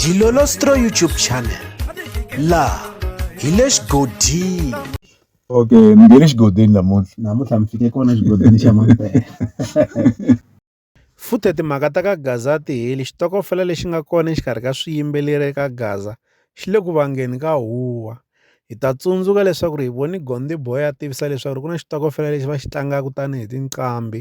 Dilolostro YouTube channel laha hi le xigodini okay mi nge le xigodini namuntlha namuntlha mi fike kona xigodini xa mampela futhi timhaka ta ka gaza a ti heli xitokofela lexi nga kona exikarhi ka swiyimbeleri eka gaza xi le ku vangeni ka huwa hi ta tsundzuka leswaku ri hi voni gonde boy a tivisa leswaku ri ku na xitokofela lexi va xi tlangaka tanihi tinqambi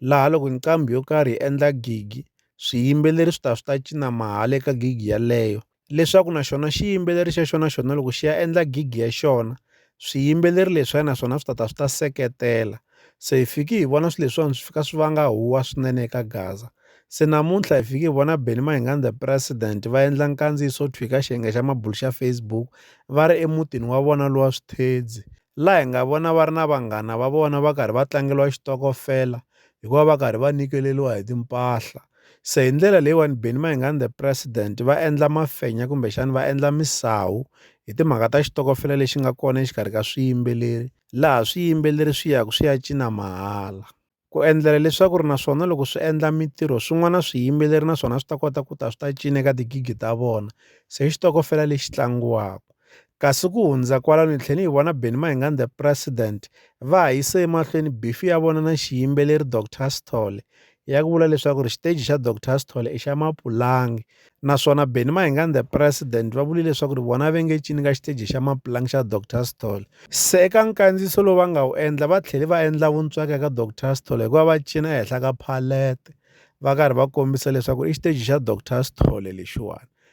laha loko nqambi yo karhi yi endla gigi swiyimbeleri swi ta swi ta cina mahala eka gigi yeleyo leswaku na xona xiyimbeleri xa xona xona loko xi ya endla gigi ya xona swiyimbeleri leswiya naswona swi ta ta swi ta seketela se hi fiki hi vona swilo leswiwani swi fika swi vanga huwa swinene eka gaza se namuntlha hi fiki hi vona Benny Mayengani the president va endla nkandziyiso thwi ka xiyenge xa mabulo xa Facebook va ri emutini wa vona lowa swithedzi laha hi nga vona va ri na vanghana va vona va karhi va tlangeliwa xitokofela hikuva va karhi va nyikeriwa hi timpahla se hi ndlela leyiwani Benny Mayengani the president va endla mafenya kumbexana va endla misawu hi timhaka ta xitokofela lexi nga kona exikarhi ka swiyimbeleri laha swiyimbeleri swi yaka swi ya cina mahala ku endlela leswaku ri naswona loko swi endla mitirho swin'wana swiyimbeleri naswona swi ta kota ku ta swi ta cina eka tigigi ta vona se xitokofela lexi tlangiwaka Kasi ku hundza kwalano hi tlhele hi vona Benny Mayengani the President va ha yise emahlweni bifi ya vona na xiyimbeleri Doctor Sithole ya ku vula leswaku ri xiteji xa Doctor Sithole i xa mapulangi naswona Benny Mayengani the President va vule leswaku ri vona ve nge cini ka xiteji xa mapulangi xa Doctor Sithole se eka nkandziyiso lowu va nga wu endla va tlhele va endla vuntswaka eka Doctor Sithole hikuva va cina ehenhla ka phalete va karhi va kombisa leswaku i xiteji xa Doctor Sithole lexiwani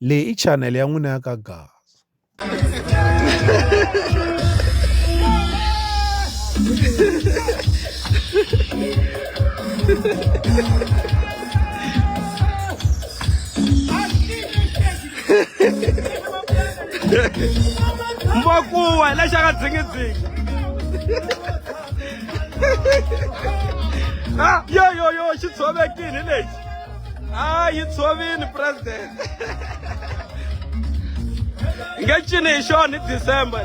Leyi i chanele ya n'wina ya ka Gaza. Mbokuwa hi lexi aka dzingidzingi. Ah, yo yo yo xi tshovekile lexi. a yi tshovini president hi nge cini hi xona hi december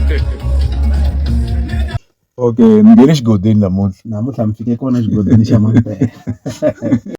lexi okay ni nghene xigodini namuntlha namuntlha mi fike kona xigodlweni xa mampela.